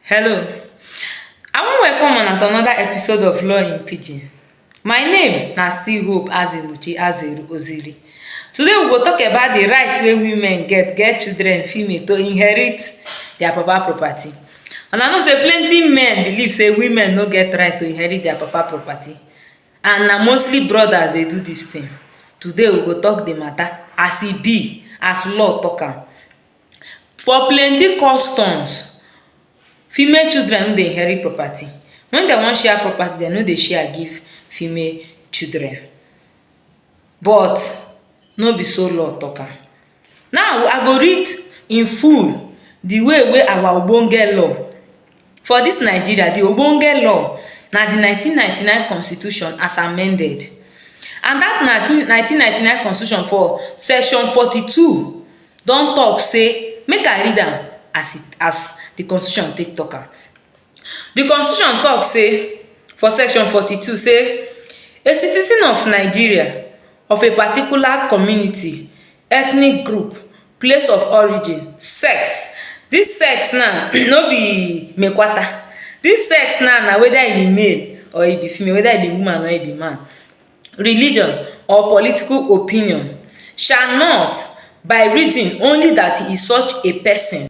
Hello, I wan welcome una to another episode of Law in Pidgin. My name na still Hope Azimuchi Azeru Oziri. Today we go talk about the right wey women get, get children, female, to inherit their papa property. Una know say plenty men believe say women no get right to inherit their papa property and na mostly brothers dey do this thing. Today we go talk the matter as e be, as law talk am. For plenty customs, female children no dey inherit property. Wen de wan share property, de no dey share give female children. But, no be so law talk am. Now, I go read in full the way wey our ogbonge law For dis Nigeria, di ogbonge law na di nineteen ninety nine constitution as amended and dat nineteen nineteen ninety nine constitution for section forty two don tok sey, make I read am as e as di constitution take tok am. Di constitution tok sey for section forty two sey, a citizen of Nigeria of a particular community, ethnic group, Place of origin, sex, dis sex now no be mekwata dis sex now na weda e be male or e be female, weda e be woman or e be man. Religion or political opinion, sha not by reason only dat he is such a pesin.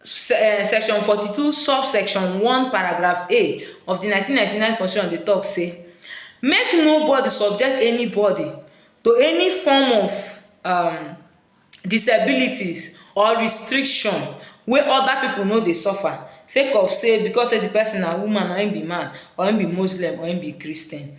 um section forty two sub section one paragraph a of di nineteen ninety nine constitution dey talk say make no body subject any body to any form of um disabilities or restriction wey other pipu no dey suffer say cause say because say di person na woman or him be man or him be muslim or him be christian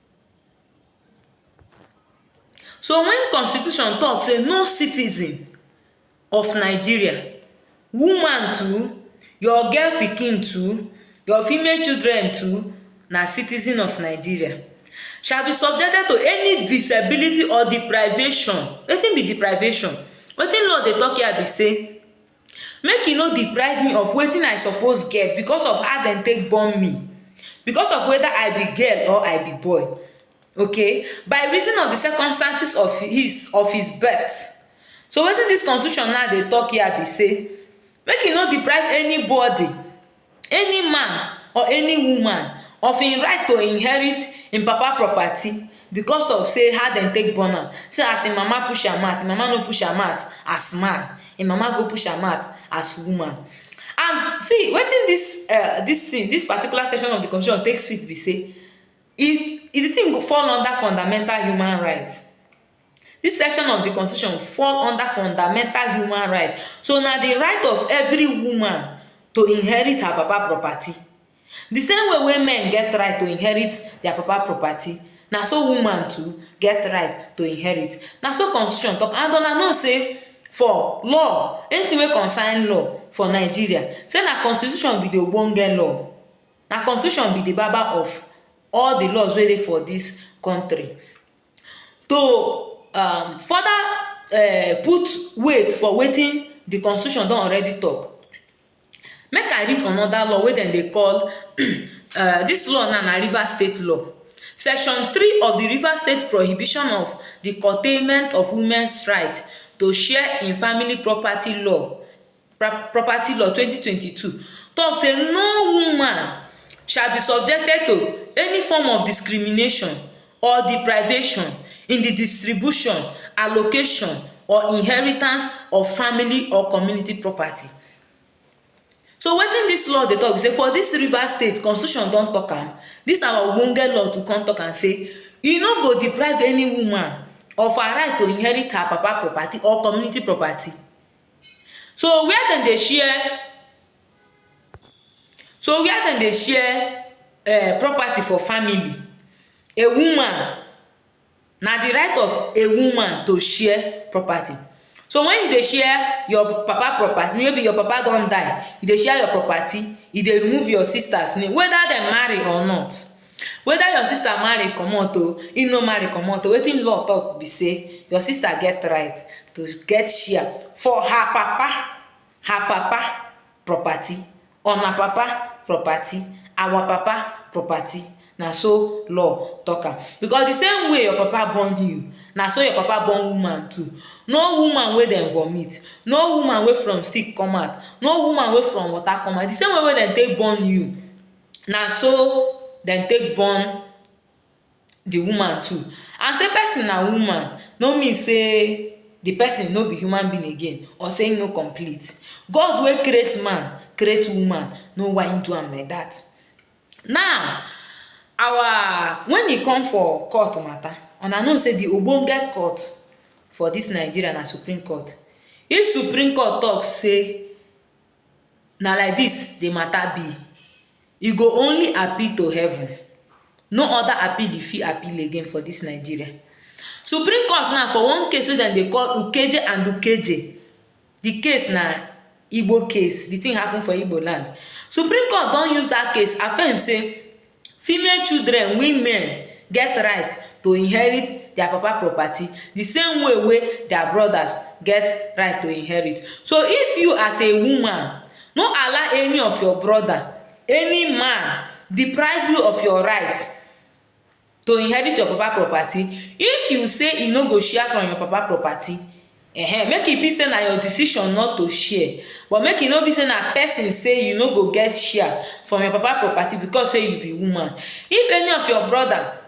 So wen constitution tok say no citizen of Nigeria, woman too, your girl pikin too, your female children too na citizen of Nigeria shall be subjected to any disability or deprivation. Wetin be deprivation? Wetin law dey tok hia be sey Make e no deprive me of wetin I suppose get because of how dem take born me, because of whether I be girl or I be boy, okay? By reason of the circumstances of his of his birth. So, wetin dis constitution now dey talk here be sey make e no deprive anybody any man or any woman of im right to inherit im papa property because of sey how dem take born am, sey as im mama push am out, im mama no push am out as man, im mama go push am out as woman. And see wetin dis um dis tin, dis particular section of di constitution take sweet be sey, e di tin go fall under fundamental human right. Dis section of di constitution fall under fundamental human right. So, na di right of every woman to inherit her papa property. Di same way wey men get right to inherit dia papa property, na so woman too get right to inherit. Na so constitution talk and una know sey for law, anything wey concern law for Nigeria, sey na constitution be di ogbonge law. Na constitution be di baba of all di laws wey dey for dis country. To um further um put weight for wetin di constitution don already tok, make I read anoda law wey dem dey call um dis law na na Rivers State law. Section three of di Rivers State prohibition of di curtailment of women's right to share in family property law Property Law twenty twenty two talk say no woman shall be subjected to any form of discrimination or deprivation in di distribution, allocation or inheritance of family or community property. So wetin dis law dey talk be say for dis River State constitution don talk am dis our ogbonge law too come talk am say e no go deprive any woman of her right to inherit her papa property or community property. So where dem dey share so where dem dey share um property for family, a woman na di right of a woman to share property. So wen you dey share your papa property, maybe your papa don die, you dey share your property, you dey remove your sisters name weda dem marry or not. Weda your sister marry comot o, im no marry comot o, wetin law talk be sey your sister get right to get share for her papa, her papa property, una papa property, our papa property, na so law talk am. Because the same way your papa born you, na so your papa born woman too. No woman wey dem vomit, no woman wey from stick come out, no woman wey from water come out, the same way wey dem take born you, na so dem take born the woman too. And sey pesin na woman no mean sey the pesin no be human being again or sey ein no complete. God wey create man, create woman know why ein do am like dat. Now, our wen e come for court matter, una know sey the ogbonge court for dis Nigeria na Supreme Court. If Supreme Court talk sey Na like dis the matter be, e go only appeal to heaven, no other appeal e fit appeal again for dis Nigeria. Supreme court now for one case wey dem dey call Ukeje and Ukeje, the case na Igbo case, the thing happen for Igbo land. Supreme court don use dat case affirm sey Female children, women, get right to inherit dia papa property di same way wey dia brodas get right to inherit. So, if you as a woman no allow any of your broda, any man deprive you of your right to inherit your papa property, if you say e no go share from your papa property, Ehen, make e be sey na your decision not to share, but make e no be sey na person sey you no go get share from your papa property because sey you be woman. If any of your brother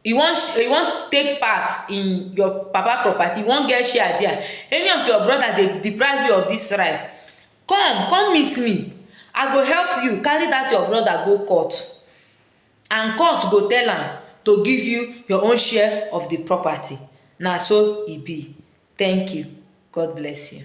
e wan e wan take part in your papa property, e wan get share dia, any of your brother dey deprive you of dis right, come, come meet me, I go help you carry dat your brother go court. and court go tell am to give you your own share of di property, na so e be, thank you, God bless you.